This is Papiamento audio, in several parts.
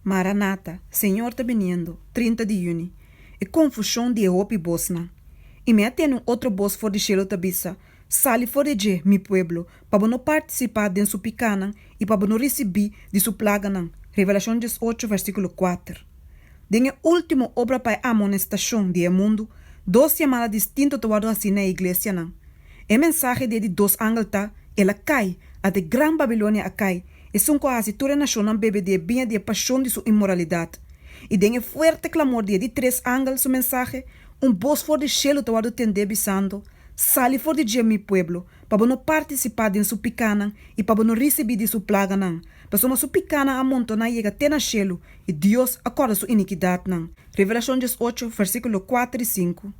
Maranata, Señor ta biniendo, trinta di yüni. E confusion di e hopi bosnan. Y mi a tene un otro bos for di cielo ta bisa, Sali for di dje, mi pueblo, pa bo no participá den su picanan y pa bo no ricibí di su plaganan. Revelacion dies ocho, versículo kuater. Den e último obra pa e amonestacion di e mundu, dos yamada distinto ta wordo hací na e iglesianan. E mensahe di e di dos angel ta, El a kai, at e gran Babilonia a kai, esun ku a hasi tur e nashonnan bebe di e biña di e pashon di su inmoralidat. I den e fuerte klamor di e di tres angel su mensahe, un bos for di shelu ta wòrdu tendé bisando, Sali for di dje mi pueblo, pa bo no partisipá den su pikanan i pa bo no risibí di su plaganan, pasobra su pikanan a amontoná yega te na shelu, i Dios a kòrda su inikidatnan. Revelashon diesocho, versíkulo kuater i sinku.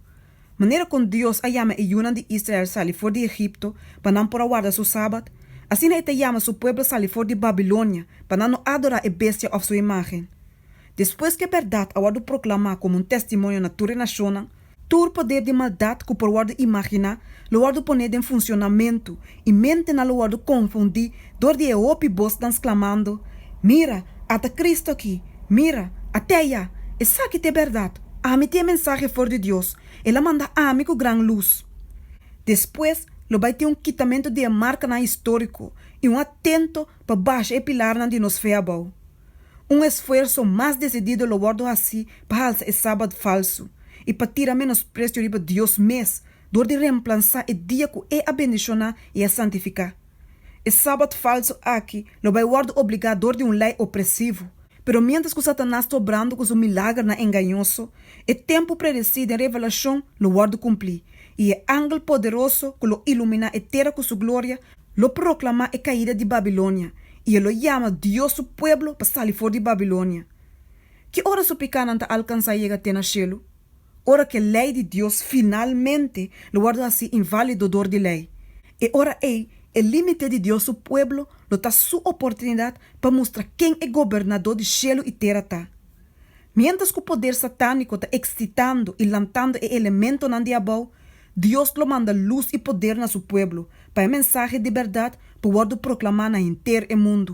Manera kon Dios a yama e yunan di Israel sali for di Egipto pa nan por a warda su sabat, asina e ta yama su pueblo sali for di Babilonia pa nan no adorá e bestia òf su imágen. Despues ku e bèrdat a wòrdu proklamá komo un tèstimonio na tur e nashonnan, tur poder di maldat ku por wòrdu imaginá lo wòrdu poné den funshonamentu I mentenan lo wòrdu konfundí dor di e hopi bosnan sklamando, Mira, ata Kristu akí! Mira, até ayá! Esaki ta e bèrdat! Ami ta e mensahe for di Dios, el a manda ami ku gran lus. Despues lo bai tin un kitamentu di e markanan históriko i un atento pa basha e pilarnan di nos fe abou. Un esfuerso mas desidido lo wòrdu hasí pa halsa e sabat falsu i pa tira menospresio riba Dios mes dor di remplansa e dia ku E a bendishoná i a santifiká. E Sabat falsu aki lo bai wòrdu obligá dor di un lei opresivo. Pero miéntras ku Satanas ta obrando ku su milagernan engañoso, e tempu predesí den Revelashon lo wòrdu kumplí, i e angel poderoso ku lo iluminá e tera ku su gloria lo proklamá e kaida di Babilonia i e lo yama Dios su pueblo pa sali for di Babilonia. Ki ora su pikánan ta alkansá yega te na shelu? Ora ku e lei di Dios finalmente lo wòrdu hasi inválido dor di lei, e ora ei e límite di Dios su pueblo lo ta su oportunidat pa mustra ken e Gobernadó di shelu i tera ta. Miéntras ku poder satániko ta ekstitando i lantando e elementonan di abou, Dios lo manda lus i poder na su pueblo pa e mensahe di bèrdat por wòrdu proklamá na henter e mundu.